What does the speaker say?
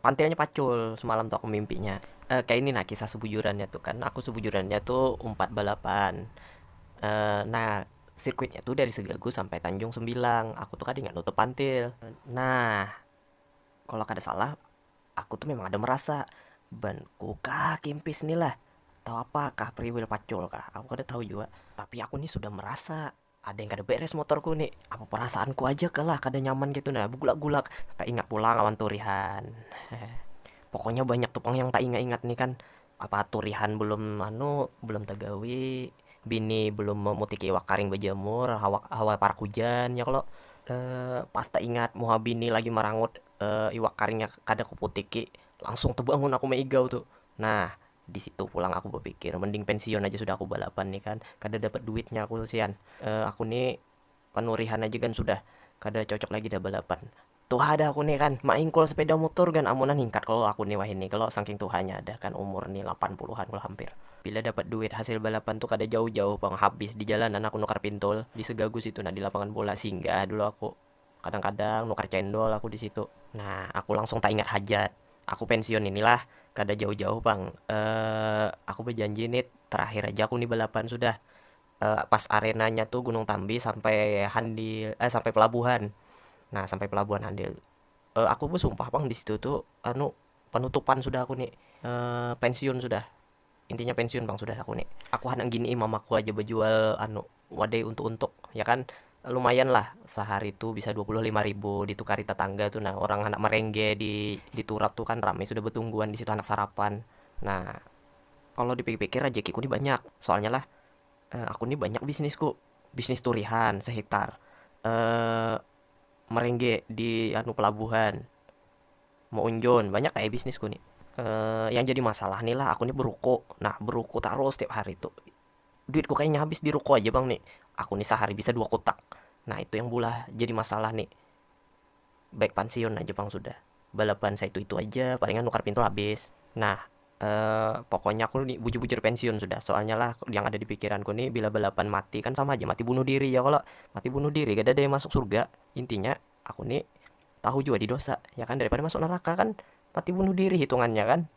pantilnya pacul semalam tu aku mimpinya kaya ini nah kisah sebujurannya tu kan aku sebujurannya tu umpat balapan nah sirkuitnya tu dari segagu sampai tanjung sembilang aku tu kada ingat nutup pantil nah kalo kada salah aku tu memang ada merasa banku kah kimpis ni lah atau apakah priwil pacul kah aku kada tahu jua tapi aku ni sudah merasa. Ada yang kada beres motorku ni, apa perasaanku aja kah lah kada nyaman kaytu nah, begulak-gulak, taingat pulang lawan turihan, pokoknya banyak tu pang yang taingat-ingat ni kan, apa turihan belum anu belum tagawi, bini belum memutiki iwak karing bejamur hawa hawa parak hujan ya kalo, pas taingat muha bini lagi marangut iwak karingnya kada kuputiki langsung tebangun aku maigau tu nah. Di situ pulang aku bapikir, mending pensiun aja sudah aku balapan nih kan, kada dapat duitnya aku sian, aku nih panurihan aja gan sudah, kada cocok lagi dah balapan, tuha dah aku nih kan, maingkul sepeda mutur gan amunan hingkat kalo aku nih wahini kalo sangking tuhanya dah kan umur nih lapan puluhan kalo hampir. Bila dapat duit hasil balapan tuh kada jauh-jauh pang habis di jalanan aku nukar pintul di segagu situ nah di lapangan bola, singgah dulu aku. Kadang-kadang nukar cendol aku disitu. Nah, aku langsung taingat hajat. Aku pensiun ini lah, kada jauh-jauh pang. Eh, aku bajanji nit, terakhir aja aku ni balapan sudah. Eh, pas arenanya tu Gunung Tambi sampai Handil, eh sampai pelabuhan. Nah, sampai pelabuhan Handil. Eh, aku basumpah pang disitu tu anu panutupan sudah aku ni, eh pensiun sudah. Intinya pensiun pang sudah aku ni, aku handak gini mamaku aja bajual anu wadai untuk untuk ya kan lumayan lah sahari tu bisa dua puluh lima ribu ditukari tatangga tu nah orang handak merengge di turap tu kan rami sudah batungguan disitu handak sarapan nah kalo di pikir pikir rajaki ku ni banyak soalnya lah aku ni banyak bisnis ku bisnis turihan sehektar merengge di anu pelabuhan meunjun banyak ai bisnis ku ni, yang jadi masalah ni lah aku ni beruku nah beruku tarus tiap hari tu, duit ku kayanya habis di ruku aja pang ni, aku ni sahari bisa dua kutak nah itu yang bulah jadi masalah ni, baik pansiun aja pang sudah balaban saitu itu aja palingan nukar pintu habis nah pokoknya aku ni bujur bujur pensiun sudah soalnya lah yang ada di pikiran ku ni bila balaban mati kan sama haja mati bunuh diri ya kalo, mati bunuh diri kadada yang masuk surga intinya. aku ni tahu jua di dosa ya kan daripada masuk neraka kan mati bunuh diri hitungannya kan.